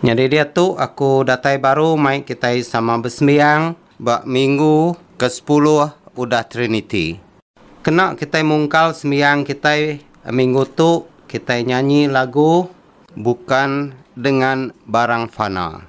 Nyadi diatu aku datai baru mai kitai sama besembiang ba minggu ke sepuluh udah Triniti. Kena kitai mungkal sembiang kitai minggu tu kitai nyanyi lagu Bukan Dengan Barang Fana.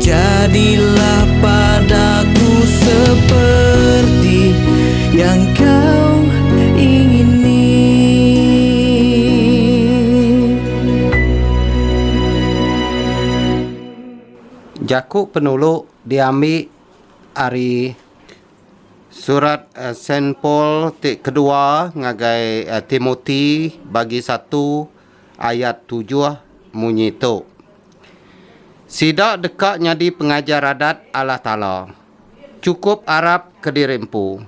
Jadilah padaku seperti yang Kau ingini. Jaku penulu diambi ari Surat Saint Paul ti kedua ngagai Timoti, Bagi satu. ayat tujuh munyi tu, Sida deka nyadi pengajar adat Allah Taala, chukup arap kediri empu,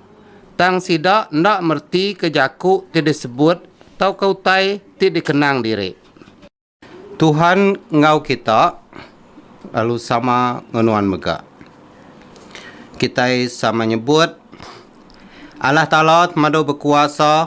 tang sida enda meretika jaku ti disebut tauka utai ti dikenang diri. Tuhan enggau kita lalu sama enggau nuan mega. Kitai sama nyebut, Allah Taala temadu bekuasa.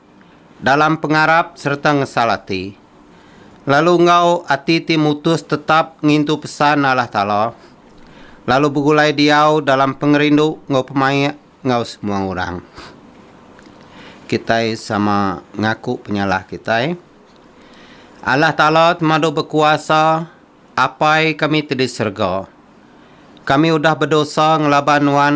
dalam pengarap sereta ngesal ati, lalu enggau ati ti mutus tetap ngintu pesan Allah Taala, lalu begulai diau dalam pengerindu enggau pemaik enggau semua orang. Kitai sama ngaku penyalah kitai. Allah Taala temadu bekuasa, Apai kami ti di serega. Kami udah bedosa ngelaban Nuan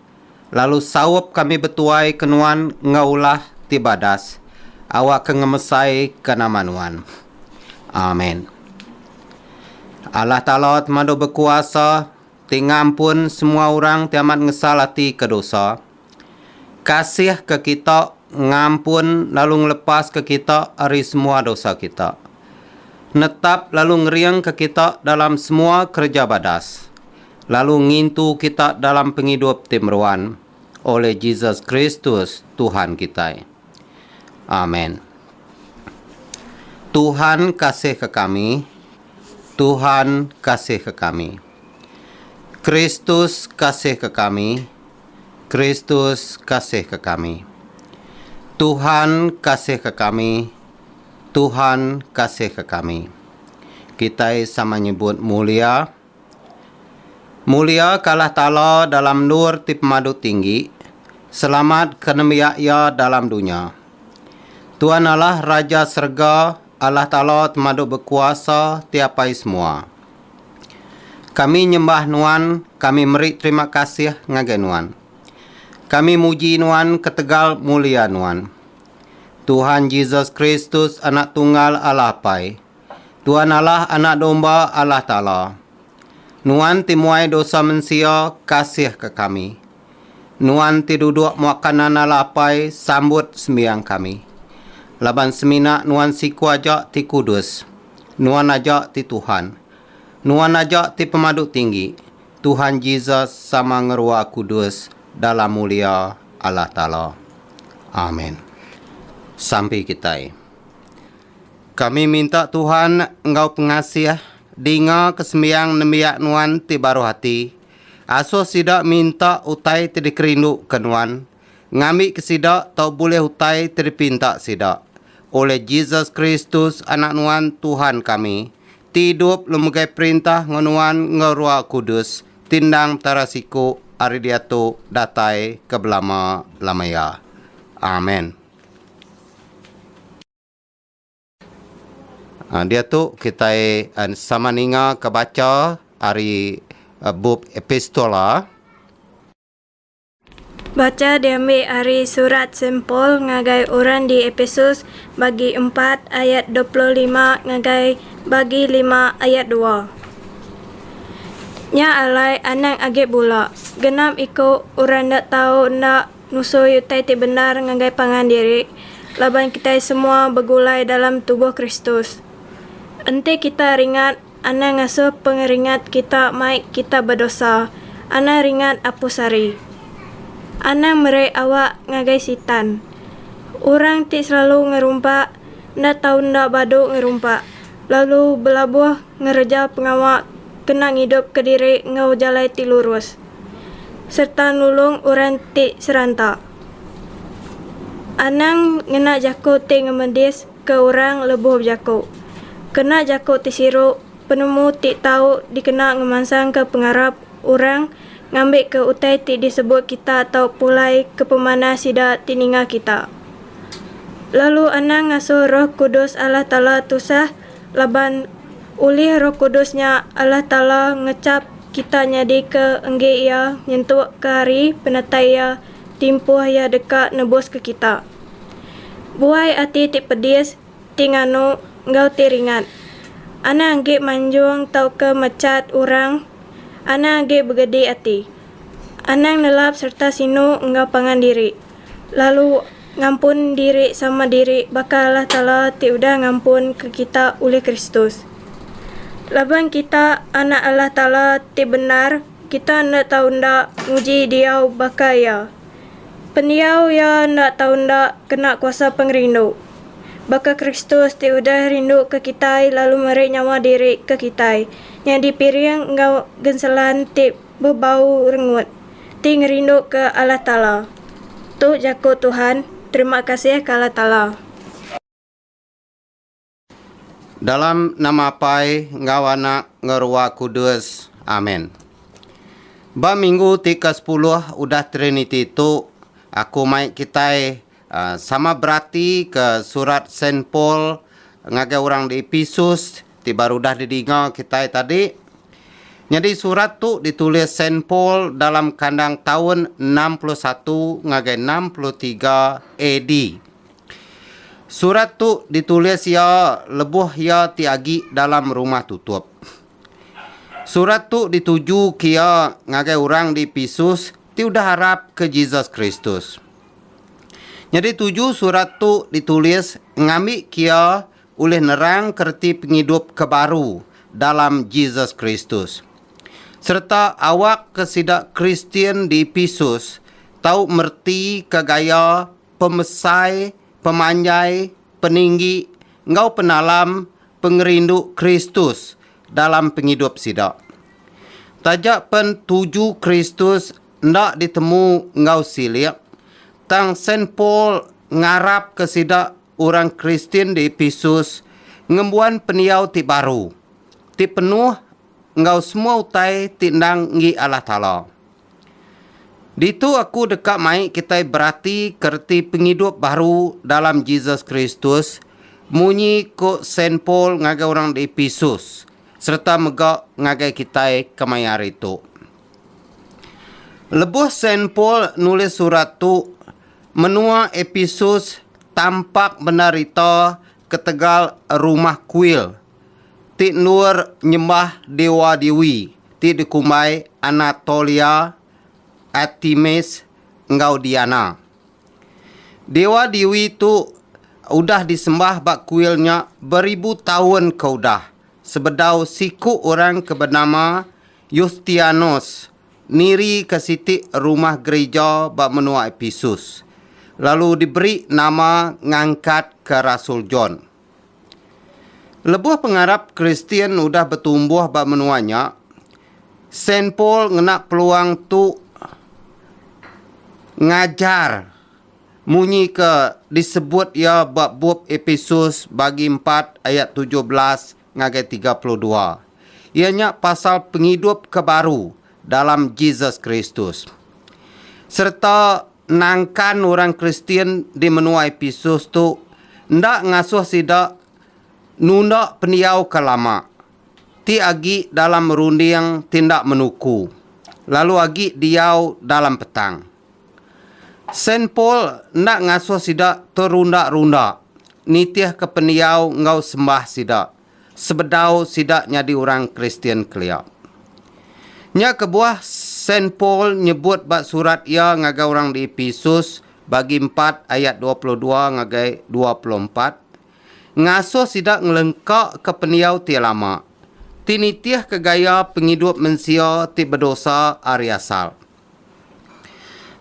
lalu saup kami betuai ke nuan enggau ulah ti badas awakka ngemesai ke nama nuan. Amen. Allah Taala ti mandu bekuasa ti ngampun semua orang ti amat ngesal ati ke dosa, kasih ke kita ngampun lalu ngelepas ke kita ari semua dosa kita. Netap lalu ngering ke kita dalam semua kereja badas. lalu ngintu kita dalam pengidup ti meruan oleh Jesus Kristus, Tuhan kitai. Amen. Tuhan kasihka kami, Tuhan kasihka kami. Kristus kasihka kami, Kristus kasihka kami. Tuhan kasihka kami, Tuhan kasihka kami. Kitai sama nyebut mulia. Mulia ka Allah Taala dalam endur ti pemadu tinggi, selamat ka nembiak Iya dalam dunya. Tuan Allah Raja serega, Allah Taala temadu bekuasa ti apai semua. Kami nyembah Nuan, kami meri terima kasih ngagai Nuan. Kami muji Nuan ketegal mulia Nuan. Tuhan Jesus Kristus Anak Tunggal Allah Apai. Tuan Allah Anak Domba Allah Taala, Nuan ti muai dosa mensia, kasihka kami. Nuan ti duduk muak kanan Allah Apai, sambut sembiang kami. Laban semina Nuan siku aja ti kudus. Nuan aja ti Tuhan. Nuan aja ti Pemadu Tinggi, Tuhan Jesus sama ngerua kudus dalam mulia Allah Taala. Amen. Sampi kitai. Kami minta Tuhan enggau pengasih dingaka sembiang nembiak nuan ti baruh ati. Asuh sida minta utai ti dikerinduka nuan, ngambika sida tau bulih utai ti dipinta sida. Olih Jesus Kristus, Anak nuan, Tuhan kami, ti idup lu megai perintah enggau nuan enggau Rua Kudus, ti endang Petara siku ari diatu datai ke belama-lama iya. Amen. Diatu kitai sama ninga ke bacha ari bup Epistola. Bacha diambi ari surat Saint Paul ngagai orang di Epesus, bagi empat ayat dua puluh lima ngagai bagi lima ayat dua. Nya alai anang agi bula, genap iku orang enda tau enda. Ngusoi utai ti bendar ngagai pangan diri laban kitai semua begulai dalam tubuh Kristus. Enti kita ringat anang ngasuh pengeringat kita mai kita bedosa, anang ringat Apu Sari. Anang meri awak ngagai Sitan. Orang ti selalu ngerumpak enda tau enda badu ngerumpak lalu belabuh ngereja pengawa kena ngidupka diri enggau jalai ti lurus. sereta nulung orang ti seranta. Anang ngena jaku ti ngemedis ke orang lebuh bejaku. Kena jaku ti siru penemu ti tau dikena ngemansangka pengarap orang ngambika utai ti disebut kita tau pulai ke pemanah sida ti ninga kita. Lalu anang ngasuh Roh Kudus Allah Taala tusah Laban, ulih Roh Kudus nya Allah Taala ngechap kita nyadika enggi Iya nyentukka hari penatai Iya timpuh Iya deka nebuska kita. Buai ati ti pedis, ti nganu, enggau ti ringat, anang agi manjung tauka mechat orang, anang agi begedi ati, anang nelap sereta sinu enggau pangan diri. lalu ngampun diri sama diri baka Allah Taala ti udah ngampunka kita ulih Kristus. Laban kita anak Allah Taala ti bendar, kita enda tau enda nguji diau baka Iya. Pendiau Iya enda tau enda kena kuasa pengerindu. Baka Kristus ti udah rinduka kitai lalu meri nyawa diri ke kitai, nyadi piring enggau genselan ti bebau rengut ti ngerinduka Allah Taala. Tu jaku Tuhan, Terima kasih ke Allah Taala. Dalam nama Apai enggau Anak enggau Ruah Kudus. Amen. Ba minggu ti ke sepuluh udah Triniti tu, aku mai kitai Sama berati ke surat Saint Paul ngagai orang di Ephesus ti baru udah didinga kitai tadi. Nyadi surat tu ditulis Saint Paul dalam kandang taun enam puluh satu ngagai enam puluh tiga AD. Surat tu ditulis iya lebuh iya ti agi dalam rumah tutup. Surat tu dituju ke iya ngagai orang di Ephesus ti udah arap ke Jesus Kristus. Nyadi tuju surat tu ditulis ngambi kia ulih nerangka reti pengidup ke baru dalam Jesus Kristus. Sereta awakka sida Kristian di Episus tau meretika gaya pemesai, pemanjai, peninggi, enggau penalam pengerindu Kristus dalam pengidup sida. Taja pen tuju Kristus enda ditemu enggau silik, tang Saint Paul ngarapka sida orang Kristian di Epesus ngembuan pendiau ti baru, ti penuh enggau semua utai ti endang enggi Allah Taala. Ditu aku deka mai kitai beratika reti pengidup baru dalam Jesus Kristus munyi ku Saint Paul ngagai orang di Epesus sereta mega ngagai kitai kemaya hari tu. Lebuh Saint Paul nulis surat tu, menua Episus tampak bendar ita ketegal rumah kuil ti endur nyembah dewa-dewi ti dikumbai Anatolia, Artemis, enggau Diana. Dewa-dewi tu udah disembah ba kuil nya beribu taun ke udah sebedau siku orang ke benama Yustianus nirika siti rumah gerija ba menua Episus, lalu diberi nama ngangkatka rasul John. Lebuh pengarap Kristian udah betumbuh ba menua nya, Saint Paul ngena peluang tu ngajar munyi ke disebut iya ba bup Episus bagi empat ayat tujuh belas ngagai tiga puluh dua, iya nya pasal pengidup ke baru dalam Jesus Kristus. Sereta nangkan orang Kristian di menua Epesus tu enda ngasuh sida nunda pendiau ke lama, ti agi dalam runding ti enda menuku, lalu agi diau dalam petang. Saint Paul enda ngasuh sida terunda-runda nitihka pendiau enggau sembah sida sebedau sida nyadi orang Kristian kelia. Nya kebuah Saint Paul nyebut ba surat iya ngagai orang di Epesus, bagi empat ayat dua puluh dua ngagai dua puluh empat, ngasuh sida ngelengkaka pendiau ti lama, ti nitihka gaya pengidup mensia ti bedosa ari asal.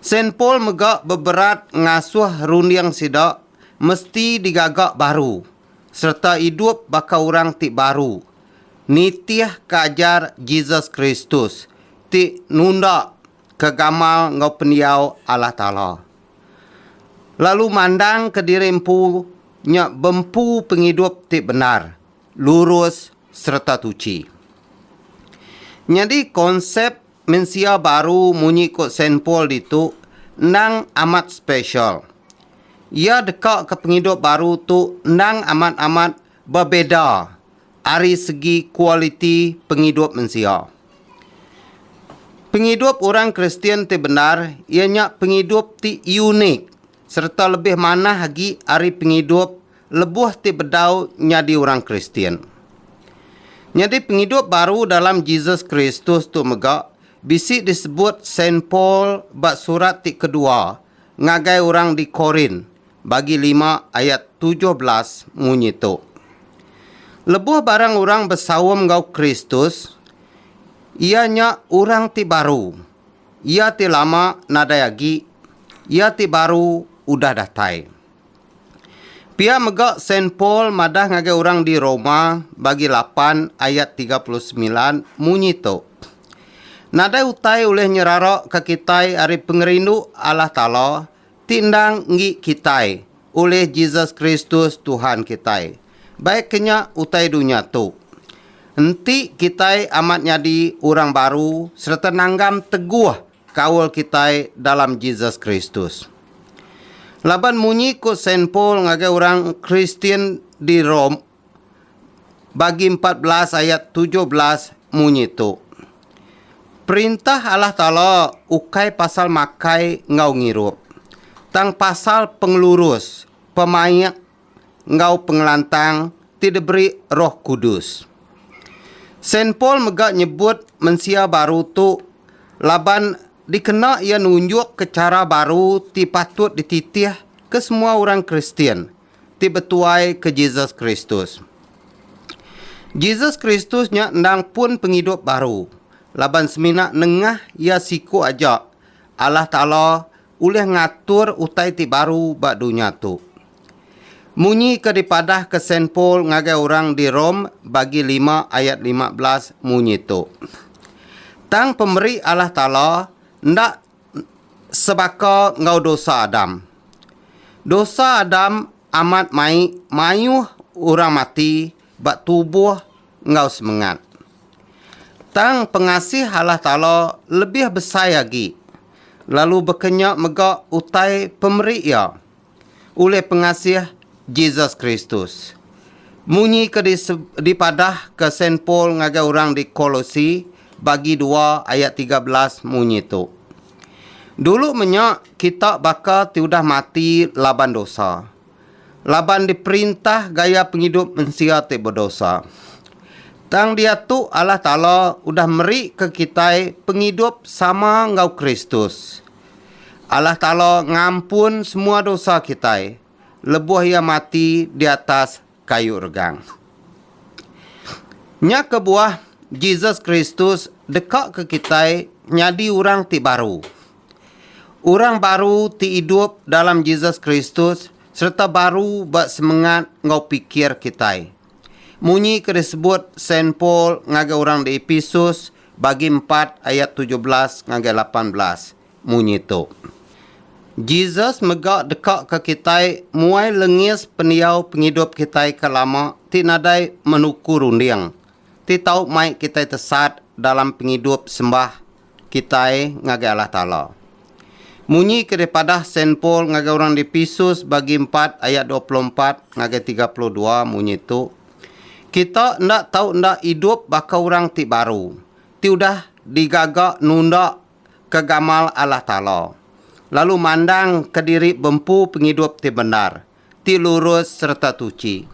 Saint Paul mega beberat ngasuh runding sida mesti digaga baru sereta idup baka orang ti baru nitih ke ajar Jesus Kristus ti nunda ke gamal enggau pendiau Allah Taala lalu mandangka diri empu nya bempu pengidup ti bendar, lurus sereta tuchi. Nyadi konsep Mensia baru munyi ku Saint Paul ditu endang amat spesial. Iya dekaka pengidup baru tu endang amat-amat bebeda ari segi kualiti pengidup mensia. Pengidup orang Kristian ti bendar iya nya pengidup ti unik sereta lebih manah agi ari pengidup lebuh ti bedau nyadi orang Kristian. Nyadi pengidup baru dalam Jesus Kristus tu mega bisi disebut Saint Paul ba surat ti kedua ngagai orang di Korint bagi lima ayat tujuh belas munyi tu, Lebuh barang orang besaum enggau Kristus, iya nya orang ti baru, iya ti lama nadai agi, iya ti baru udah datai. Pia mega Saint Paul madah ngagai orang di Roma bagi lapan ayat tiga puluh semilan munyi tu, Nadai utai ulih nyerara ka kitai ari pengerindu Allah Taala ti endang enggi kitai ulih Jesus Kristus Tuhan kitai, baik ke nya utai dunya tu. Enti kitai amat nyadi orang baru sereta nanggam teguh kaul kitai dalam Jesus Kristus. Laban munyi ku Saint Paul ngagai orang Kristian di Rome bagi empat belas ayat tujuh belas munyi tu, Perintah Allah Taala ukai pasal makai enggau ngirup, tang pasal pengelurus, pemaik enggau pengelantang ti diberi Roh Kudus. Saint Paul mega nyebut mensia baru tu laban dikena iya nunjukka chara baru ti patut dititih ke semua orang Kristian ti betuai ke Jesus Kristus. Jesus Kristus nya endang pun pengidup baru laban semina nengah Iya siku aja Allah Taala ulih ngatur utai ti baru ba dunya tu. Munyi ke dipadahka Saint Paul ngagai orang di Rome bagi lima ayat lima belas munyi tu, Tang pemeri Allah Taala enda sebaka enggau dosa Adam. Dosa Adam amat mai mayuh orang mati ba tubuh enggau semengat. Tang pengasih Allah Taala lebih besai agi, lalu baka nya mega utai pemeri Iya ulih pengasih Jesus Kristus. Munyi ke dipadahka Saint Paul ngagai orang di Kolosi, bagi dua ayat tiga belas munyi tu, Dulu menya kita baka ti udah mati laban dosa, laban diperintah gaya pengidup mensia ti bedosa. Tang diatu Allah Taala udah merika kitai pengidup sama enggau Kristus. Allah Taala ngampun semua dosa kitai lebuh Iya mati di atas kayu regang. Nya kebuah, Jesus Kristus dekaka kitai nyadi orang ti baru. Orang baru ti idup dalam Jesus Kristus sereta baru ba semengat enggau pikir kitai. Munyi ke disebut Saint Paul ngagai orang di Episus bagi empat ayat tujuh belas ngagai lapan belas munyi tu, Jesus mega deka ke kitai muai lengis pendiau pengidup kitai ke lama ti nadai menuku runding, ti tau mai kitai tesat dalam pengidup sembah kitai ngagai Allah Taala. Munyi ke dipadah Saint Paul ngagai orang di Epesus bagi empat ayat dua puluh empat ngagai tiga puluh dua munyi tu, Kita enda tau enda idup baka orang ti baru, ti udah digaga nunda ke gamal Allah Taala, lalu mandang kediri bempu pengidup ti bendar, ti lurus sereta tuchi.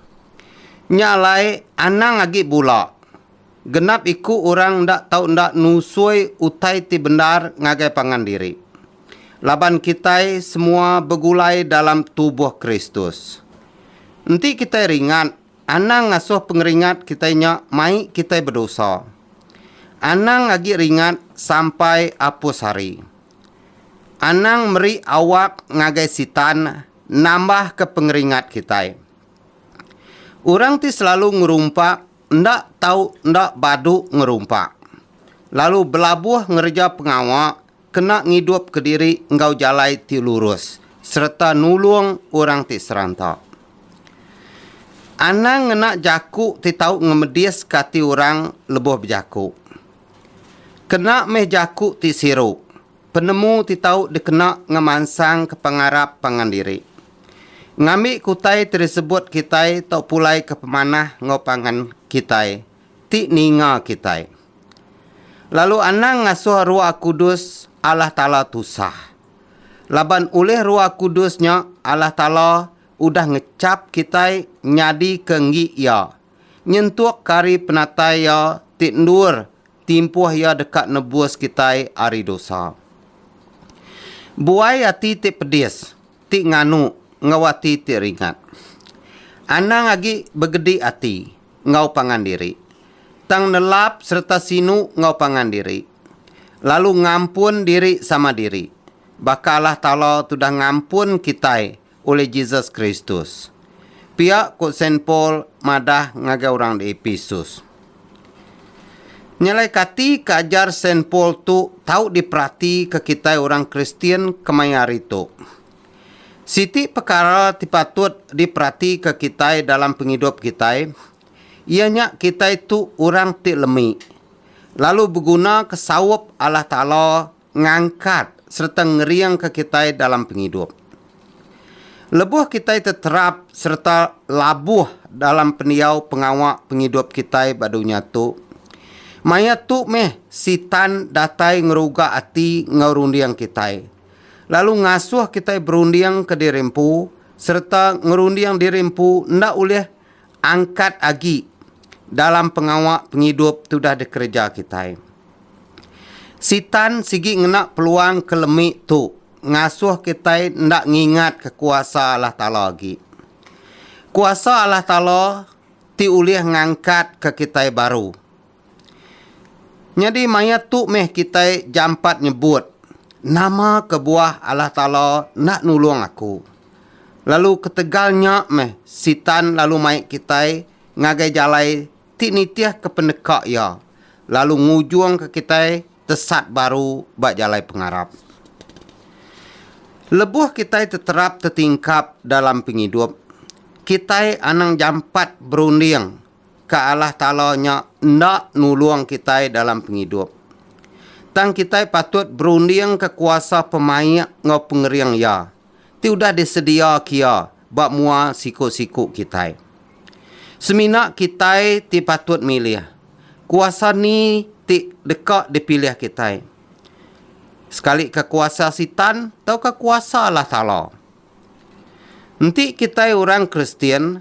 Nya alai anang agi bula, genap iku orang enda tau enda nusoi utai ti bendar ngagai pangan diri. Laban kitai semua begulai dalam tubuh Kristus. Enti kitai ringat, anang ngasuh pengeringat kitai nya mai kitai bedosa. Anang agi ringat sampai apus hari. Anang meri awak ngagai Sitan nambahka pengeringat kitai. Orang ti selalu ngerumpa enda tau enda badu ngerumpa, lalu belabuh ngereja pengawa kena ngidupka diri enggau jalai ti lurus sereta nulung orang ti seranta. Anang ngena jaku ti tau ngemediska ati orang lebuh bejaku. Kena meh jaku ti siru, penemu ti tau dikena ngemansangka pengarap pangan diri. Ngambi kutai ti disebut kitai tau pulaika pemanah enggau pangan kitai ti ninga kitai. Lalu anang ngasuh Roh Kudus Allah Taala tusah. Laban ulih Roh Kudus nya Allah Taala udah ngechap kitai nyadika enggi Iya nyentuk ke ari penatai Iya ti endur timpuh Iya deka nebus kitai ari dosa. Buai ati ti pedis, ti nganu, enggau ati ti ringat. Anang agi begedi ati enggau pangan diri, tang nelap sereta sinu enggau pangan diri, lalu ngampun diri sama diri, baka Allah Taala tudah ngampun kitai ulih Jesus Kristus. Pia ku Saint Paul madah ngagai orang di Epesus. Nyelai kati ke ajar Saint Paul tu tau diperatika kitai orang Kristian kemaya hari tu. Siti pekara ti patut diperatika kitai dalam pengidup kitai iya nya kitai tu orang ti lemi, lalu begunaka saup Allah Taala ngangkat sereta ngeringka kitai dalam pengidup. Lebuh kitai teterap sereta labuh dalam pendiau pengawa pengidup kitai ba dunya tu, maya tu meh Sitan datai ngeruga ati enggau runding kitai, lalu ngasuh kitai berunding kediri empu sereta ngerunding diri empu enda ulih Angkat agi dalam pengawa pengidup ti udah dikereja kitai. Sitan sigi ngena peluang ke lemi tu ngasuh kitai enda ngingatka kuasa Allah Taala agi. Kuasa Allah Taala ti ulih ngangkatka kitai baru. Nyadi maya tu meh kitai jampat nyebut, Nama kebuah Allah Taala enda nulung aku? Lalu ketegal nya meh Sitan lalu mai kitai ngagai jalai ti nitihka pendeka iya lalu ngujungka kitai tesat baru ba jalai pengarap. Lebuh kitai teterap tetingkap dalam pengidup, kitai anang jampat berunding ke Allah Taala nya enda nulung kitai dalam pengidup. Tang kitai patut berundingka kuasa pemaik enggau pengering Iya ti udah disediaka Iya ba mua siku-siku kitai. Semina kitai ti patut milih, kuasa ni ti deka dipilih kitai, sekalika kuasa Sitan tauka kuasa Allah Taala. Enti kitai orang Kristian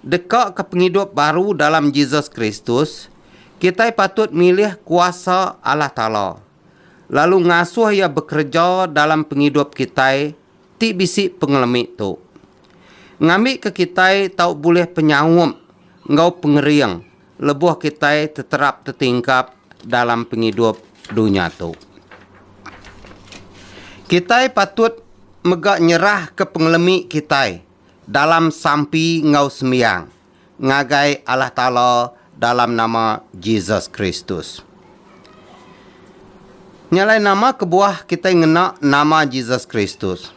dekaka pengidup baru dalam Jesus Kristus, kitai patut milih kuasa Allah Taala, lalu ngasuh Iya bekereja dalam pengidup kitai ti bisi pengelemi tu. Ngambika kitai tau bulih penyaup enggau pengering lebuh kitai teterap tetingkap dalam pengidup dunya tu. Kitai patut mega nyerahka pengelemi kitai dalam sampi enggau sembiang ngagai Allah Taala dalam nama Jesus Kristus. Nya alai nama kebuah kitai ngena nama Jesus Kristus?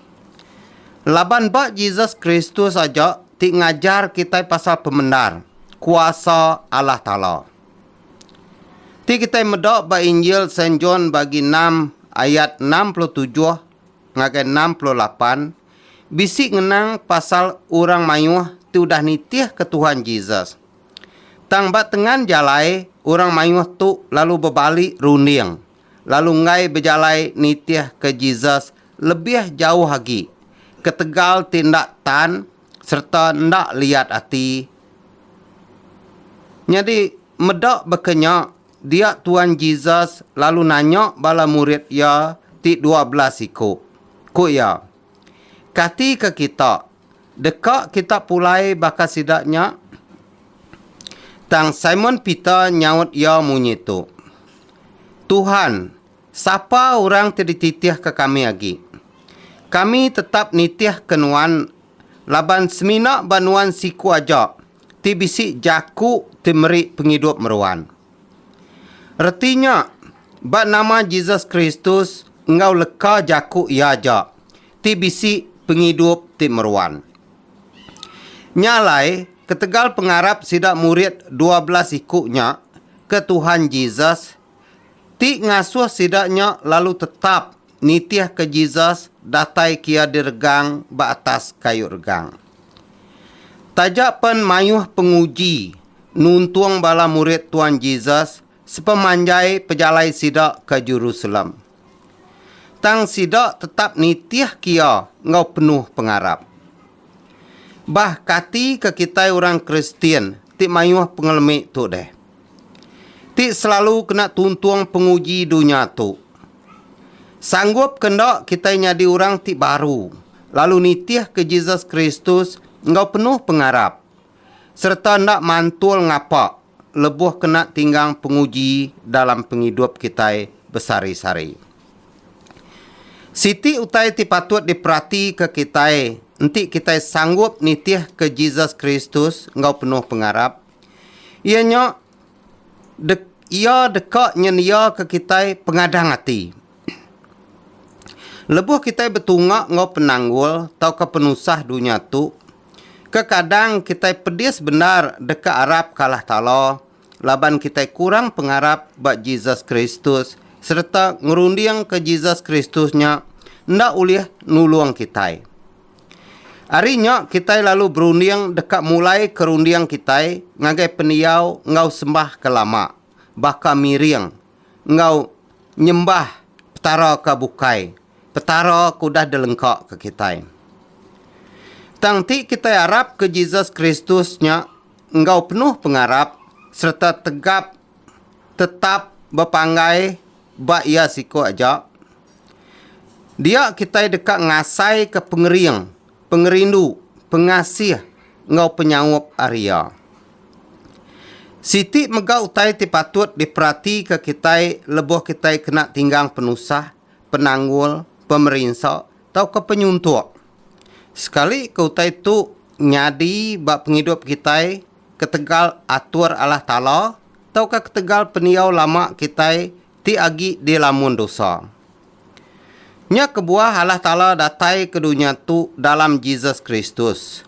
Laban ba Jesus Kristus aja ti ngajar kitai pasal pemendar kuasa Allah Taala. Ti kitai meda ba Injil Saint John bagi enam ayat enam puluh tujuh ngagai enam puluh lapan bisi ngenang pasal orang mayuh ti udah nitih ke Tuhan Jesus. Tang ba tengan jalai orang mayuh tu lalu bebali runding. lalu enggai bejalai nitihka Jesus lebih jauh agi ketegal ti enda tan sereta enda liat ati. Nyadi, meda baka nya, dia Tuan Jesus lalu nanya bala murid iya ti dua belas iku. Ku iya, Kati ke kita deka kita pulai baka sida nya? Tang Simon Peter nyaut iya munyi tu, Tuhan, sapa orang ti dititihka kami agi? Kami tetap nitihka Nuan, laban semina ba Nuan siku aja ti bisi jaku ti meri pengidup meruan. Reti nya, ba nama Jesus Kristus enggau leka jaku Iya aja ti bisi pengidup ti meruan. Nya alai, ketegal pengarap sida murid dua belas iku nya ke Tuhan Jesus ti ngasuh sida nya lalu tetap nitihka Jesus datai kia diregang ba atas kayu regang. Taja pen mayuh penguji nuntung bala murid Tuan Jesus sepemanjai pejalai sida ke Jerusalem. Tang sida tetap nitih kia enggau penuh pengarap. Bah kati ke kitai orang Kristian ti mayuh pengelemi tu deh? Ti selalu kena tuntung penguji dunya tu. Sanggup ke enda kitai nyadi orang ti baru lalu nitihka Jesus Kristus enggau penuh pengarap sereta enda mantul ngapa lebuh kena tinggang penguji dalam pengidup kitai besari-sari. Siti utai ti patut diperatika kitai enti kitai sanggup nitihka Jesus Kristus enggau penuh pengarap iya nya dek iya deka nyendiaka kitai pengadang ati. Lebuh kitai betunga enggau penanggul tauka penusah dunya tu, kekadang kitai pedis bendar deka arap ke Allah Taala laban kitai kurang pengarap ba Jesus Kristus sereta ngerundingka Jesus Kristus nya enda ulih nulung kitai. Ari nya kitai lalu berunding deka mulaika runding kitai ngagai pendiau enggau sembah ke lama, baka miring enggau nyembah petara ke bukai Petara ke udah dilengkaka kitai. Tang ti kitai arapka Jesus Kristus nya enggau penuh pengarap sereta tegap tetap bepanggai ba iya siko aja. Dia kitai deka ngasaika pengering, pengerindu, pengasih enggau penyaup ari iya. Siti mega utai ti patut diperatika kitai lebuh kitai kena tinggang penusah. penanggul, pemerinsa tauka penyuntuk. Sekali ke utai tu nyadi ba pengidup kitai ketegal atur Allah Taala tauka ketegal pendiau lama kitai ti agi dilamun dosa. Nya kebuah Allah Taala datai ke dunya tu dalam Jesus Kristus,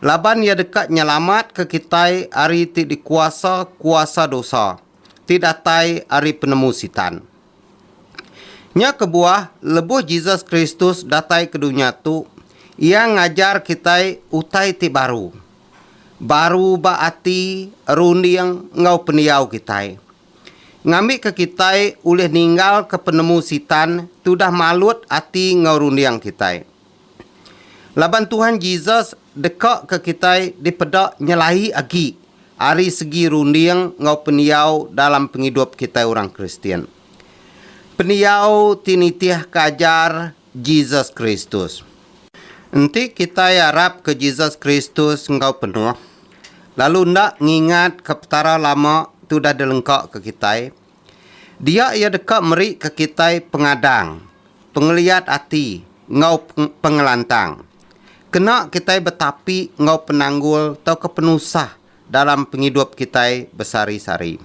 laban Iya deka nyelamatka kitai ari ti dikuasa kuasa dosa ti datai ari penemu Sitan. Nya kebuah, lebuh Jesus Kristus datai ke dunya tu, Iya ngajar kitai utai ti baru. Baru ba ati, runding, enggau pendiau kitai. Ngambika kitai ulih ninggalka penemu Sitan ti udah malut ati enggau runding kitai. Laban Tuhan Jesus dekaka kitai dipeda nyelai agi ari segi runding enggau pendiau dalam pengidup kitai orang Kristian. Pendiau ti nitihka ajar Jesus Kristus. Enti kitai arapka Jesus Kristus enggau penuh, lalu enda ngingatka Petara lama ti udah dilengkaka kitai, Dia iya deka merika kitai pengadang, pengeliat ati, enggau pengelantang. Kena kitai betapi enggau penanggul tauka penusah dalam pengidup kitai besari-sari.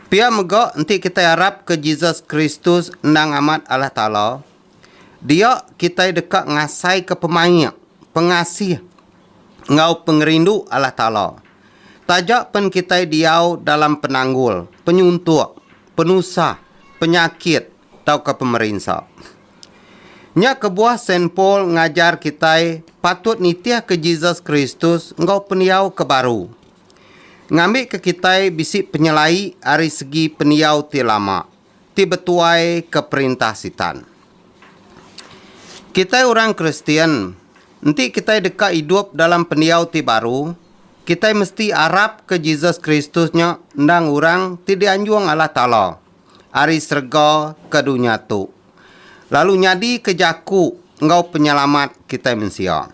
Pia mega enti kitai arapka Jesus Kristus endang amat Allah Taala, dia kitai deka ngasaika pemaik, pengasih, enggau pengerindu Allah Taala. Taja pen kitai diau dalam penanggul, penyuntuk, penusah, penyakit, tauka pemerinsa. Nya kebuah Saint Paul ngajar kitai patut nitihka Jesus Kristus enggau pendiau ke baru. Ngambika kitai bisi penyelai ari segi pendiau ti lama. ti betuai ke perintah Sitan. Kitai orang Kristian, enti kitai deka idup dalam pendiau ti baru, kitai mesti arapka Jesus Kristus nya endang orang ti dianjung Allah Taala ari serega ke dunya tu, lalu nyadika Jaku enggau Penyelamat kitai mensia.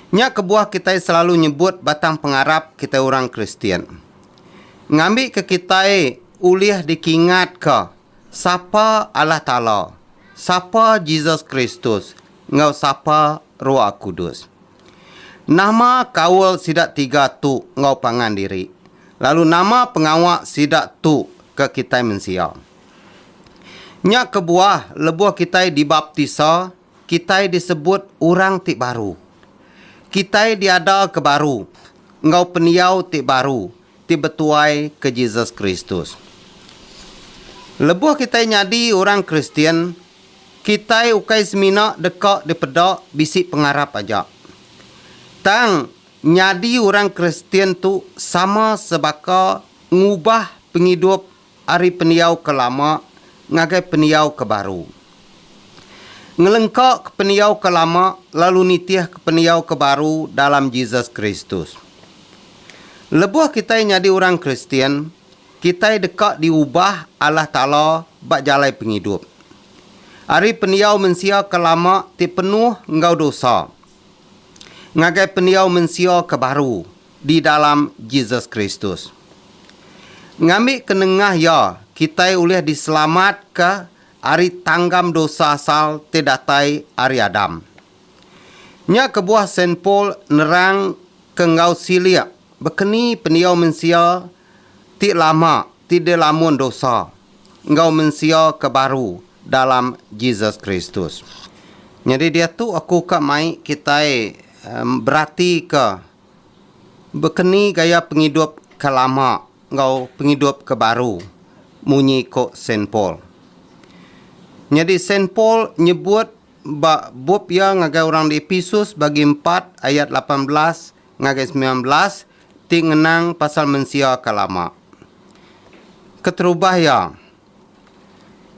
Nya kebuah kitai selalu nyebut batang pengarap kitai orang Kristian. Ngambika kitai ulih dikingatka sapa Allah Taala, sapa Jesus Kristus, enggau sapa Roh Kudus. Nama kaul sida tiga tu enggau pangan diri, lalu nama pengawa sida tu ke kitai mensia? Nya kebuah lebuh kitai dibaptisa, Kitai disebut orang ti baru. Kitai diada ke baru enggau pendiau ti baru ti betuai ke Jesus Kristus. Lebuh kitai nyadi orang Kristian, kitai ukai semina deka dipeda bisi pengarap aja. Tang, nyadi orang Kristian tu sama sebaka ngubah pengidup Ari pendiau ke lama ngagai pendiau ke baru. Ngelengkaka pendiau ke lama lalu nitihka pendiau ke baru dalam Jesus Kristus. Lebuh kitai nyadi orang Kristian, kitai deka diubah Allah Taala ba jalai pengidup. Ari pendiau mensia ke lama ti penuh enggau dosa ngagai pendiau mensia ke baru di dalam Jesus Kristus. Ngambika nengah iya, kitai ulih diselamatka ari tanggam dosa asal ti datai ari Adam. Nya kebuah Saint Paul nerangka enggau silik bekeni pendiau mensia ti lama ti dilamun dosa enggau mensia ke baru dalam Jesus Kristus. Nyadi diatu aku ka mai kitai beratika Bekeni gaya pengidup ke lama enggau pengidup ke baru, munyi ko Saint Paul. Nyadi Saint Paul nyebut ba bup iya ngagai orang di Episus bagi empat ayat lapan belas ngagai semilan belas ti ngenang pasal mensia ke lama. Keterubah iya,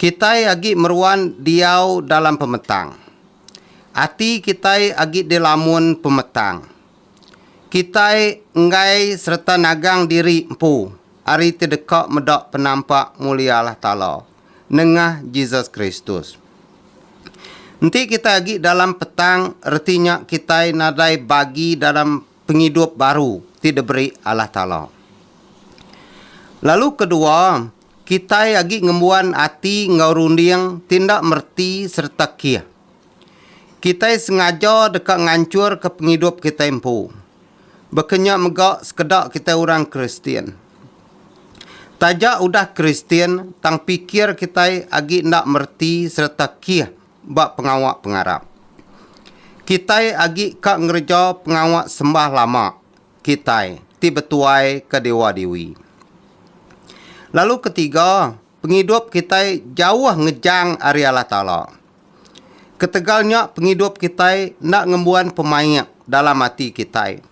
kitai agi meruan diau dalam pemetang. Ati kitai agi dilamun pemetang. Kitai enggai sereta nagang diri empu ari ti deka meda penampak mulia Allah Taala nengah Jesus Kristus. Enti kitai agi dalam petang reti nya kitai nadai bagi dalam pengidup baru ti diberi Allah Taala. Lalu kedua, Kitai agi ngembuan ati enggau runding ti enda mereti sereta kih. Kitai sengaja deka nganchurka pengidup kitai empu. Baka nya mega sekeda kitai orang Kristian. Taja udah Kristian, tang pikir kitai agi enda mereti sereta kih ba pengawa pengarap. Kitai agi ka ngereja pengawa sembah lama kitai ti betuai ke dewa dewi. Lalu ketiga, pengidup kitai jauh ngejang ari Allah Taala. Ketegal nya pengidup kitai enda ngembuan pemaik dalam ati kitai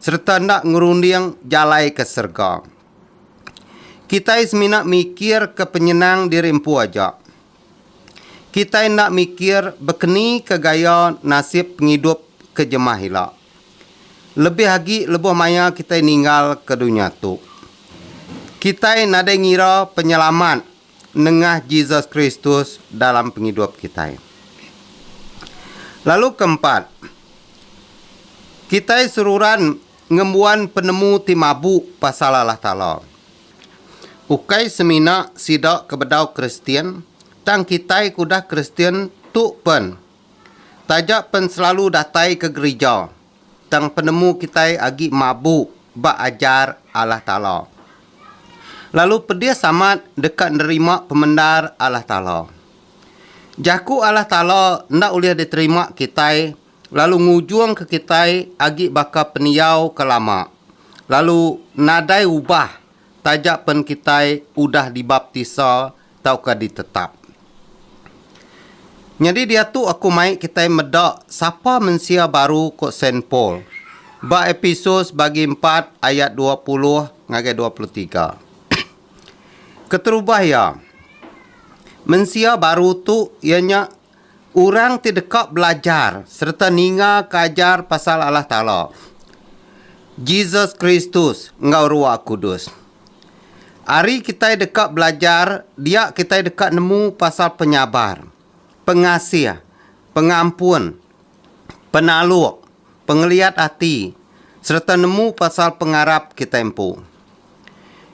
sereta enda ngerunding jalai ke serega. Kitai semina mikirka penyenang diri empu aja, kitai enda mikir bekenika gaya nasib pengidup ke jemah ila, lebih agi lebuh maya kitai ninggalka dunya tu. Kitai nadai ngira penyelamat nengah Jesus Kristus dalam pengidup kitai. Lalu ke empat, kitai seruran ngembuan penemu ti mabu pasal Allah Taala. Ukai semina sida ke bedau Kristian, tang kitai ke udah Kristian tu pen. Taja pen selalu datai ke gerija, tang penemu kitai agi mabu ba ajar Allah Taala. Lalu pedis amat deka nerima pemendar Allah Taala. Jaku Allah Taala enda ulih diterima kitai lalu ngujungka kitai agi baka pendiau ke lama lalu nadai ubah taja pen kitai udah dibaptisa tauka ditetap. Nyadi diatu aku mai kitai meda sapa mensia baru ko Saint Paul ba Episus bagi empat ayat dua puluh ngagai dua puluh tiga. Keterubah iya, mensia baru tu iya nya orang ti deka belajar sereta ningaka ajar pasal Allah Taala, Jesus Kristus enggau Ruah Kudus. Ari kitai deka belajar dia kitai deka nemu pasal penyabar, pengasih, pengampun, penaluk, pengeliat ati sereta nemu pasal pengarap kitai empu.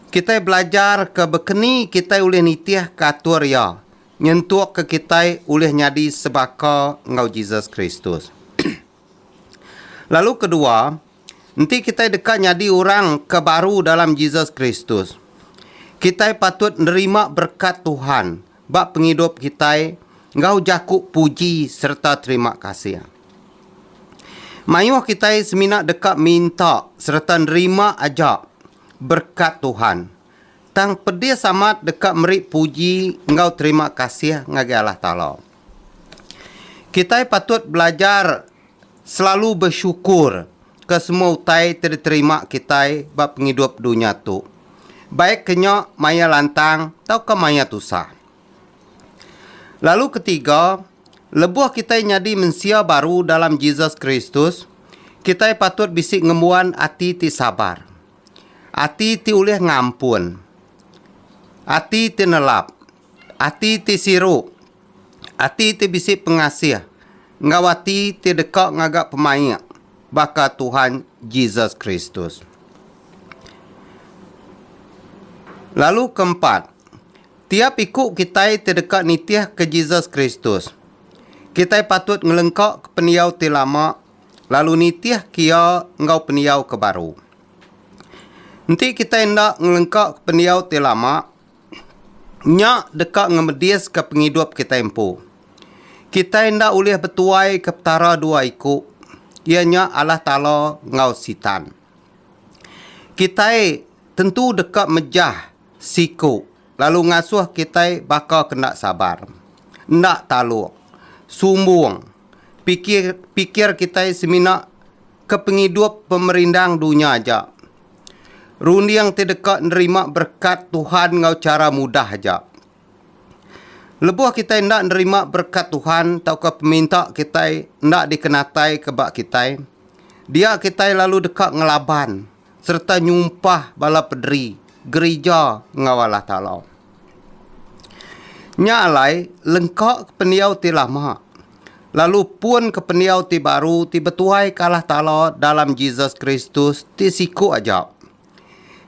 Kitai belajar ke bekeni kitai ulih nitihka atur Iya. Nyentukka kitai ulih nyadi sebaka enggau Jesus Kristus. Lalu kedua, enti kitai deka nyadi orang ke baru dalam Jesus Kristus, kitai patut nerima berekat Tuhan ba pengidup kitai enggau jaku puji sereta terima kasih. Mayuh kitai semina deka minta sereta nerima aja berekat Tuhan Tang pedis amat deka meri puji enggau terima kasih ngagai Allah Taala. Kitai patut belajar selalu besyukur ke semua utai ti diterima kitai ba pengidup dunya tu, baik ke nya maya lantang tauka maya tusah. Lalu ketiga, lebuh kitai nyadi mensia baru dalam Jesus Kristus, kitai patut bisi ngembuan ati ti sabar. Ati ti ulih ngampun. Ati ti nelap. Ati ti siru. Ati ti bisi pengasih enggau ati ti deka ngaga pemaik baka Tuhan Jesus Kristus. Lalu ke empat, tiap iku kitai ti deka nitihka Jesus Kristus, kitai patut ngelengkaka pendiau ti lama lalu nitihka iya enggau pendiau ke baru. Enti kitai enda ngelengkaka pendiau ti lama, nya deka ngemediska pengidup kitai empu. Kitai enda ulih betuaika petara dua iku, iya nya Allah Taala enggau Sitan. Kitai tentu deka mejah Siku, lalu ngasuh kitai baka ke enda sabar, enda taluk, sumbung, pikir pikir kitai semina ke pengidup pemerindang dunya aja. Runding ti deka nerima berekat Tuhan enggau chara mudah aja. Lebuh kitai enda nerima berekat Tuhan tauka peminta kitai enda dikenataika ba kitai, dia kitai lalu deka ngelaban. sereta nyumpah bala pederi gerija enggau Allah Taala. Nya alai lengka ke pendiau ti lama, lalu pun ke pendiau ti baru ti betuaika Allah Taala dalam Jesus Kristus ti siku aja.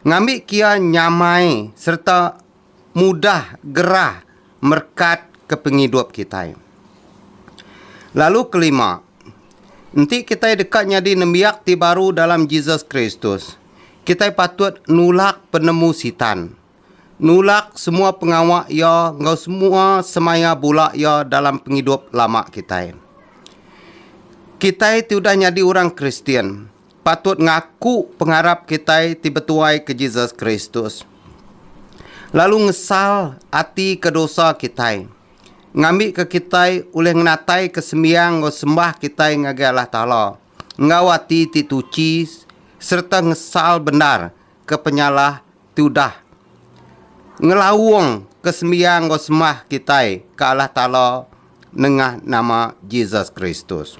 Ngambi kia nyamai sereta mudah gerah merekat ke pengidup kitai. Lalu kelima, enti kitai deka nyadi nembiak ti baru dalam Jesus Kristus, kitai patut nulak penemu Sitan, nulak semua pengawa iya enggau semua semaya bula iya dalam pengidup lama kitai. Kitai ti udah nyadi orang Kristian, patut ngaku pengarap kitai ti betuai ke Jesus Kristus, lalu ngesal ati ke dosa kitai, ngambika kitai ulih ngenataika sembiang enggau sembah kitai ngagai Allah Taala enggau ati ti tuchi sereta ngesal bendar ke penyalah ti udah ngelaung ke sembiang enggau sembah kitai ke Allah Taala nengah nama Jesus Kristus.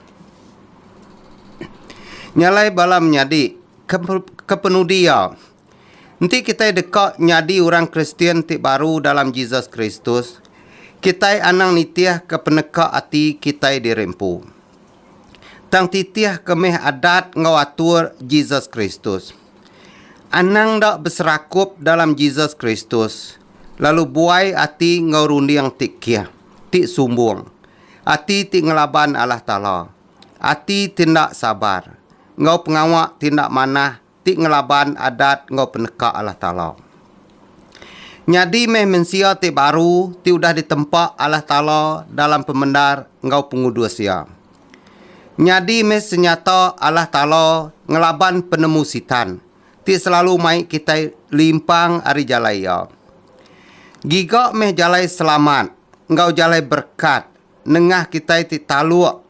Nya alai bala menyadi ke, ke penudi iya, enti kitai deka nyadi orang Kristian ti baru dalam Jesus Kristus, kitai anang nitihka peneka ati kitai diri empu. Tang titihka meh adat enggau atur Jesus Kristus. Anang enda beserakup dalam Jesus Kristus, lalu buai ati enggau runding ti kih, ti sumbung, ati ti ngelaban Allah Taala, ati ti enda sabar, enggau pengawa ti enda manah ti ngelaban adat enggau peneka Allah Taala. Nyadi meh mensia ti baru ti udah ditempa Allah Taala dalam pemendar enggau pengudus Iya. Nyadi meh senyata Allah Taala ngelaban penemu Sitan, ti selalu mai kitai limpang ari jalai Iya. Giga meh jalai selamat enggau jalai berekat nengah kitai ti taluk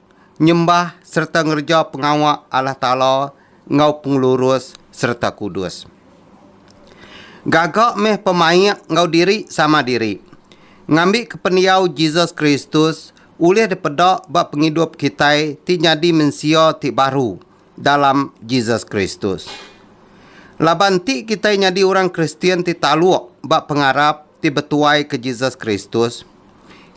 nyembah sereta ngereja pengawa Allah Taala enggau pengelurus sereta kudus. Gaga meh pemaik enggau diri sama diri, ngambika pendiau Jesus Kristus ulih dipeda ba pengidup kitai ti nyadi mensia ti baru dalam Jesus Kristus. Laban enti kitai nyadi orang Kristian ti taluk ba pengarap ti betuaika Jesus Kristus,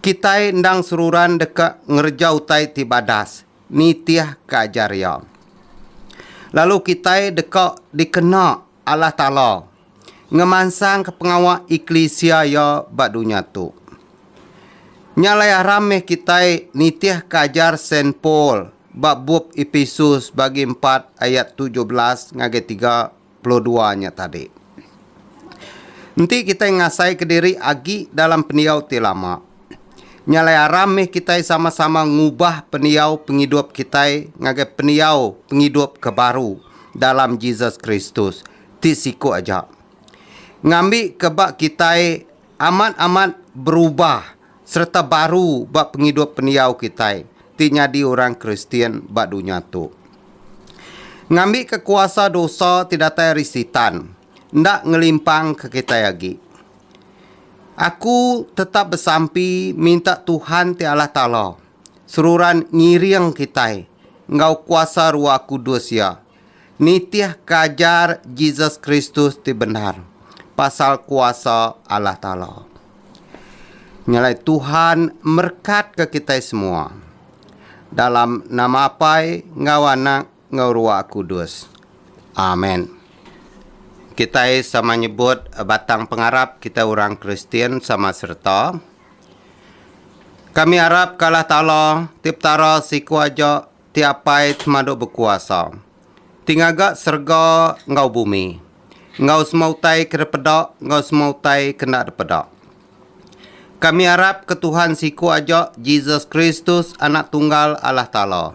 kitai endang seruran deka ngereja utai ti badas nitihka ajar Iya. Lalu kitai deka dikena Allah Taala, ngemansangka pengawa eklisia Iya ba dunya tu. Nya alai aram meh kitai nitihka ajar Saint Paul ba bup Epesus bagi empat ayat tujuh belas ngagai tiga puluh dua nya tadi. Enti kitai ngasaika diri agi dalam pendiau ti lama, Nya alai aram mih kitai sama-sama ngubah pendiau pengidup kitai ngagai pendiau pengidup ke baru dalam Jesus Kristus ti siku aja. Ngambi ke ba kitai amat-amat berubah sereta baru ba pengidup pendiau kitai ti nyadi orang Kristian ba dunya tu. Ngambi ke kuasa dosa ti datai ari Sitan enda ngelimpangka kitai agi. Aku tetap besampi minta Tuhan ti Allah Taala seruran ngiring kitai enggau kuasa Ruah Kudus Iya nitih ke ajar Jesus Kristus ti bendar pasal kuasa Allah Taala. Nyelai Tuhan merekatka kitai semua. Dalam nama Apai enggau Anak enggau Ruah Kudus. Amen. Kitai sama nyebut batang pengarap kitai orang Kristian sama sereta. Kami arap ke Allah Taala, ti Petara siku aja, ti Apai Semadu Bekuasa, ti ngaga serega enggau bumi, enggau semua utai ke dipeda enggau semua utai ke enda dipeda. Kami arap ke Tuhan siku aja, Jesus Kristus, Anak Tunggal Allah Taala,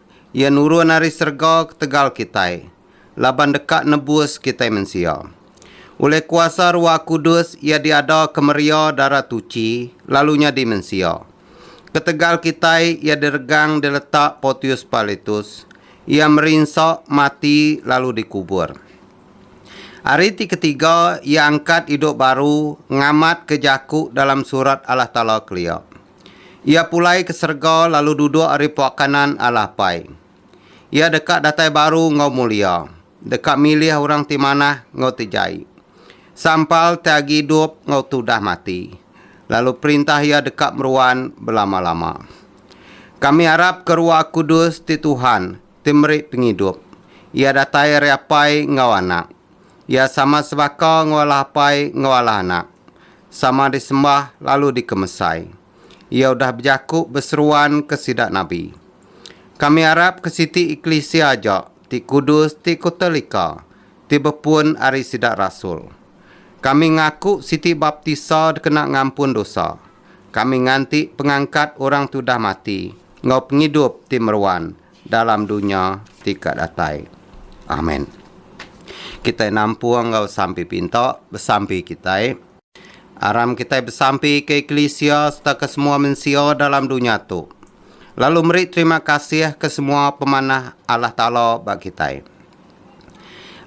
Iya nurun ari serega ketegal kitai, laban deka nebus kitai mensia. Ulih kuasa Ruah Kudus iya diadaka meria dara tuchi lalu nyadi mensia. Ketegal kitai iya diregang diletak Portius Pilatus, iya merinsa, mati lalu dikubur. Ari ti ketiga iya angkat idup baru ngamatka jaku dalam Surat Allah Taala kelia. Iya pulai ke serega lalu duduk ari puak kanan Allah Apai. Iya deka datai baru enggau mulia, deka milih orang ti manah enggau ti jai, sampal ti agi idup enggau ti udah mati, lalu perintah Iya deka meruan belama-lama. Kami arap ke Rua Kudus ti Tuhan, ti meri pengidup. Iya datai ari Apai enggau Anak. Iya sama sebaka enggau Allah Apai enggau Allah Anak. sama disembah lalu dikemesai. Iya udah bejaku beseruanka sida nabi. Kami arap ke siti eklisia aja ti kudus ti kutelika ti bepun ari sida rasul. Kami ngaku siti baptisa dikena ngampun dosa. Kami nganti pengangkat orang ti udah mati enggau pengidup ti meruan dalam dunya ti ka datai. Amen. Kitai nampung enggau sampi pinta besampi kitai. Aram kitai besampi ke eklisia sereta ke semua mensia dalam dunya tu, lalu meri terima kasih ke semua pemanah Allah Taala ba kitai.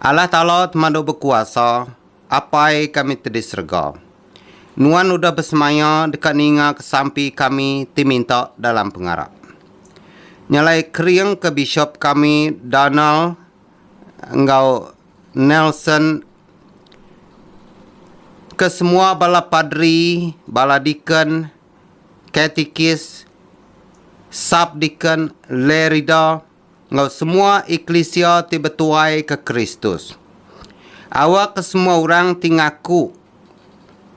Allah Taala temadu bekuasa. Apai kami ti di serega. Nuan udah besemaya deka ninga ke sampi kami ti minta dalam pengarap. Nyalai kering ke Bishop kami Donald enggau Nelson ke semua bala padri, bala deacon, katikis, sub-deacon, lay reader, enggau semua eklisia ti betuai ke Kristus. Awa ke semua orang ti ngaku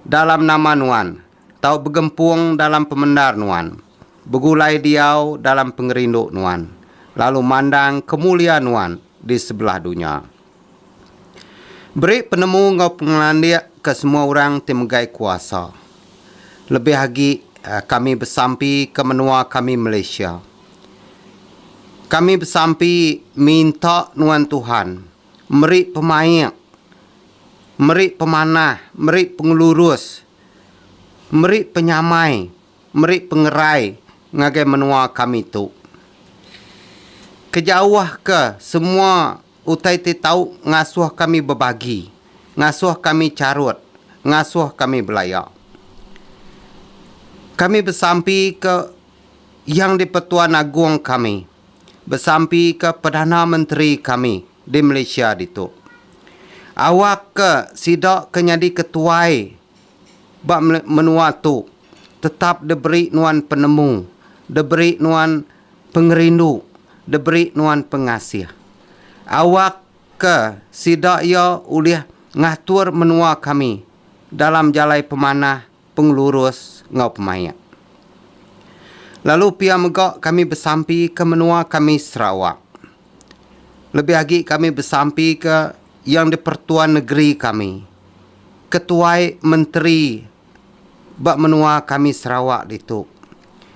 dalam nama nuan tau begempung dalam pemendar nuan, begulai diau dalam pengerindu nuan, lalu mandang kemulia nuan di sebelah dunya. Beri penemu enggau pengelandik ke semua orang ti megai kuasa, lebih agi kami besampi ke menua kami Malaysia. Kami besampi minta nuan Tuhan meri pemaik, meri pemanah, meri pengelurus, meri penyamai, meri pengerai ngagai menua kami tu. Kejauhka semua utai ti tau ngasuh kami bebagi, ngasuh kami charut, ngasuh kami belaya. Kami besampi ke Yang di-Pertuan Agong kami besampika Perdana Menteri kami di Malaysia ditu. Awakka sida ke nyadi ketuai ba menua tu tetap diberi nuan penemu, diberi nuan pengerindu, diberi nuan pengasih. Awakka sida iya ulih ngatur menua kami dalam jalai pemanah, pengelurus enggau pemaik. Lalu pia mega kami besampi ke menua kami Sarawak. Lebih agi kami besampi ke Yang di-Pertuan Negeri kami, ketuai menteri ba menua kami Sarawak ditu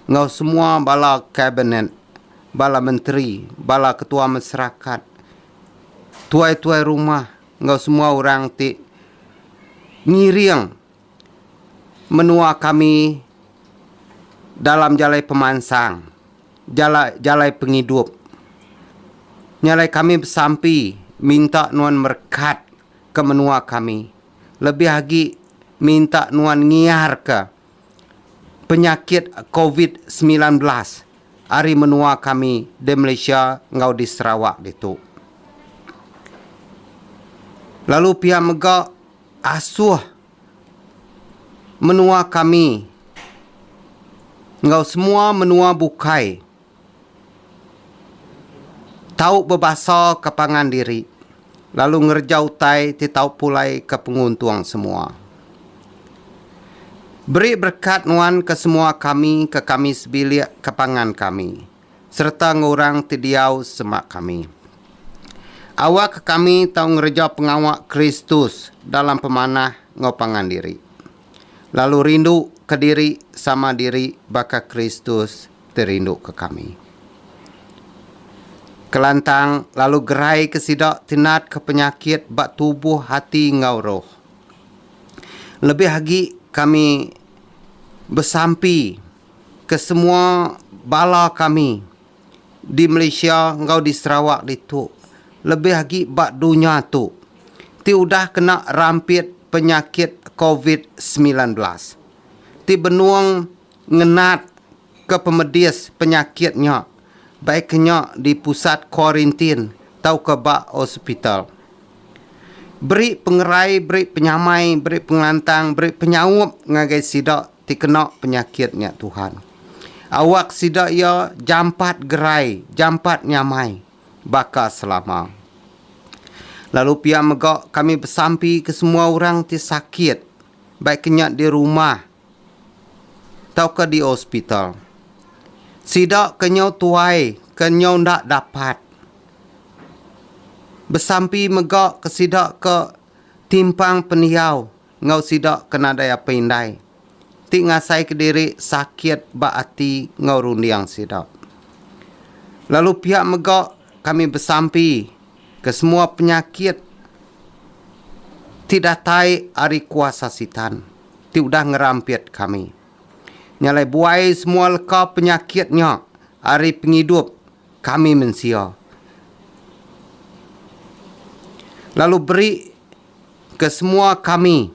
enggau semua bala kabinet, bala menteri, bala ketua masarakat, tuai-tuai rumah enggau semua orang ti ngiring menua kami dalam jalai pemansang, jala jalai pengidup. Nya alai kami besampi minta nuan merekat ke menua kami lebih agi minta nuan ngiarka penyakit covid semilan belas ari menua kami di Malaysia enggau di Sarawak ditu. Lalu pia mega. Asuh menua kami enggau semua menua bukai tau bebasaka pangan diri lalu ngereja utai ti tau pulaika penguntung semua. Beri berekat nuan ke semua kami ke kami sebilik ke pangan kami. sereta enggau orang ti diau sema kami. Awakka kami tau ngereja pengawa Kristus dalam pemanah enggau pangan diri, lalu rinduka diri sama diri baka Kristus ti rinduka kami. Kelantang, lalu geraika sida ti natka penyakit ba tubuh, ati, enggau roh. Lebih agi, kami besampi. Kesemua bala kami di Malaysia enggau di Sarawak ditu, lebih agi ba dunya tu, ti udah kena rampit penyakit covid semilan belas, ti benung ngenat ke pemedis penyakit nya baika nya di pusat kuarintin tauka ba hospital. Beri pengerai, beri penyamai, beri pengelantang, beri penyaup ngagai sida ti kena penyakit nya Tuhan. Awak sida iya jampat gerai, jampat nyamai baka selama. Lalu pia mega kami besampi ke semua orang ti sakit, baik ke nya di rumah tauka di hospital. Sida ke nyau tuai ke nyau enda dapat besampi mega ke sida ke timpang pendiau. enggau sida ke nadai apai indai ti ngasaika diri sakit ba ati enggau runding sida. Lalu pia mega kami besampi ke semua penyakit ti datai ari kuasa Sitan ti udah ngerampit kami. Nya alai buai semua leka penyakit nya ari pengidup kami mensia lalu beri ke semua kami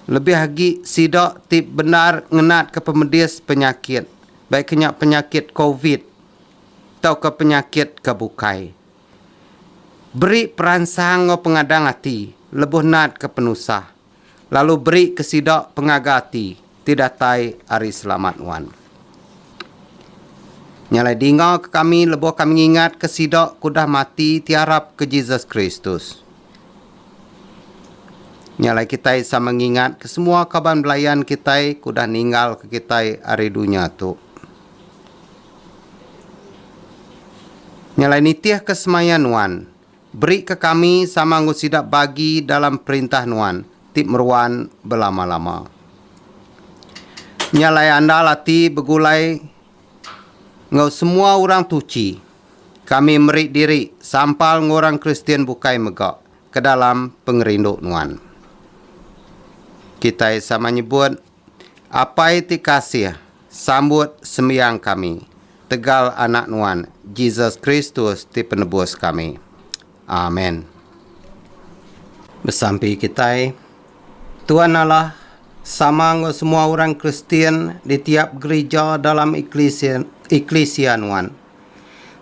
lebih agi sida ti bendar ngenat ke pemedis penyakit baik ke nya penyakit covid tauka penyakit ke bukai beri peransang enggau pengadang ati lebuh nat ke penusah. lalu beri ke sida pengaga ati ti datai ari selamat nuan. Nya alai dinga ke kami lebuh kami ngingat ke sida ke udah mati ti arap ke Jesus Kristus. Nya alai kitai sama ngingat ke semua kaban belayan kitai ke udah ninggal ke kitai ari dunya tu. Nya alai nitih ke semaya nuan. Berika kami sama enggau sida bagi dalam Perintah Nuan ti meruan belama-lama. Nya alai andal ati begulai enggau semua orang tuchi, kami meri diri sampal enggau orang Kristian bukai mega ke dalam pengerindu Nuan. Kitai sama nyebut. Apai ti kasih, sambut sembiang kami tegal Anak Nuan, Jesus Kristus ti Penebus kami. Amen. Besampi kitai, Tuan Allah sama enggau semua orang Kristian di tiap gerija dalam eklisia eklisia Nuan.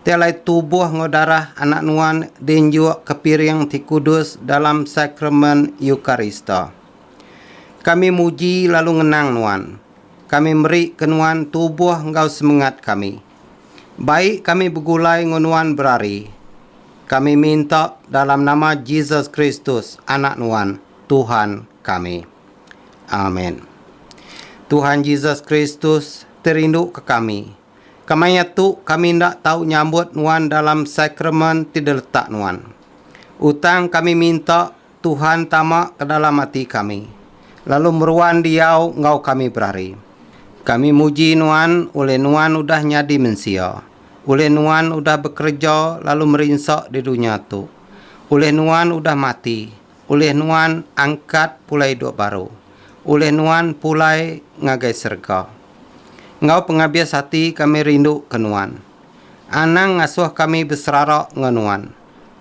Ti alai tubuh enggau darah Anak Nuan diinjuk kepiring ti kudus dalam Sakramen Eukarista. Kami muji lalu ngenang Nuan. Kami meri ke Nuan tubuh enggau semengat kami. Bai kami begulai enggau Nuan berari. Kami minta dalam nama Jesus Kristus, Anak Nuan, Tuhan kami. Amen. Tuhan Jesus Kristus ti rindu ke kami. Kemaya tu kami enda tau nyambut Nuan dalam sakramen ti diletak Nuan. Utang kami minta Tuhan tama ke dalam ati kami, lalu meruan diau enggau kami berari. Kami muji Nuan ulih Nuan udah nyadi mensia, ulih Nuan udah bekereja lalu merinsa di dunya tu, ulih Nuan udah mati, ulih Nuan angkat pulai idup baru, ulih Nuan pulai ngagai serega. Enggau pengabis ati kami rinduka Nuan. Anang ngasuh kami beserara enggau Nuan.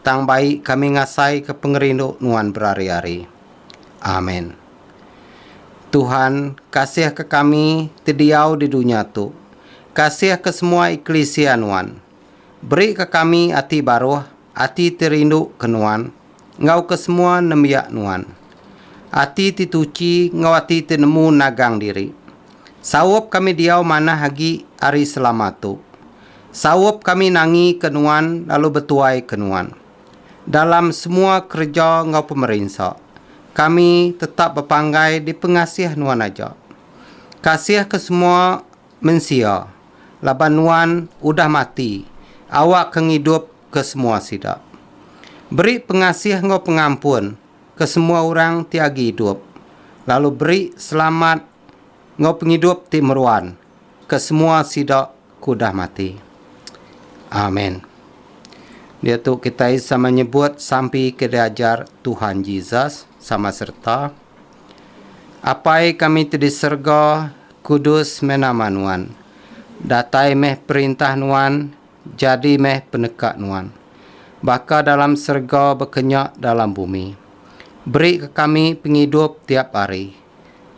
Tang bai kami ngasaika pengerindu nuan berari-ari. Amen. Tuhan, kasihka kami ti diau di dunya tu. Kasihka semua eklisia nuan. Berika kami ati baruh, ati ti rinduka nuan, enggau ke semua nembiak nuan. Ati ti tuchi enggau ati ti nemu nagang diri. Saup kami diau manah agi ari selama tu. Saup kami nangi ke nuan lalu betuai ke nuan. Dalam semua kereja enggau pemerinsa, kami tetap bepanggai dipengasih nuan aja. Kasih ke semua mensia laban nuan udah mati awak ke ngidup ke semua sida. Beri pengasih enggau pengampun ke semua orang ti agi idup lalu beri selamat Enggau pengidup ti meruan ke semua sida ke udah mati. Amen. Diatu kitai sama nyebut sampi ke diajar Tuhan Jesus sama sereta, Apai kami ti di serega, kudus meh nama Nuan. Datai meh perintah Nuan, jadi meh peneka Nuan. Baka dalam serega baka nya dalam bumi. Beri ke kami pengidup tiap hari.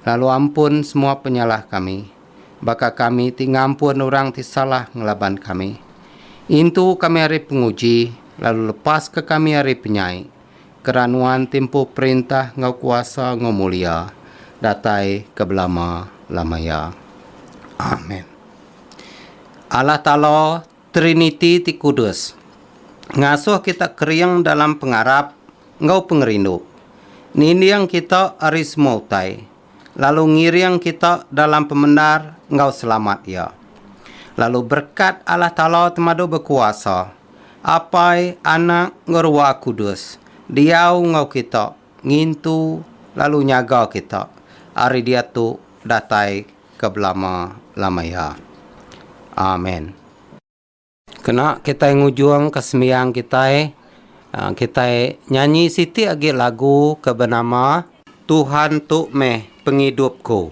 lalu ampun semua penyalah kami, baka kami ti ngampun orang ti salah ngelaban kami. Intu kami ari penguji, lalu lepaska kami ari penyai, kera Nuan timpu perintah enggau kuasa enggau mulia, datai ke belama-lama iya. Amen. Allah Taala. Triniti ti kudus ngasuh kita kering dalam pengarap enggau pengerindu, ninding kita ari semua utai, lalu ngiring kita dalam pemendar enggau selamat Iya. Lalu berekat Allah Taala Temadu Bekuasa, Apai, Anak, enggau Ruah Kudus diau enggau kita ngintu lalu nyaga kita ari diatu datai ke belama-lama iya. Amen. Kena kitai ngujungka sembiang kitai, kitai nyanyi siti agi lagu ke benama. Tuhan tu meh pengidupku.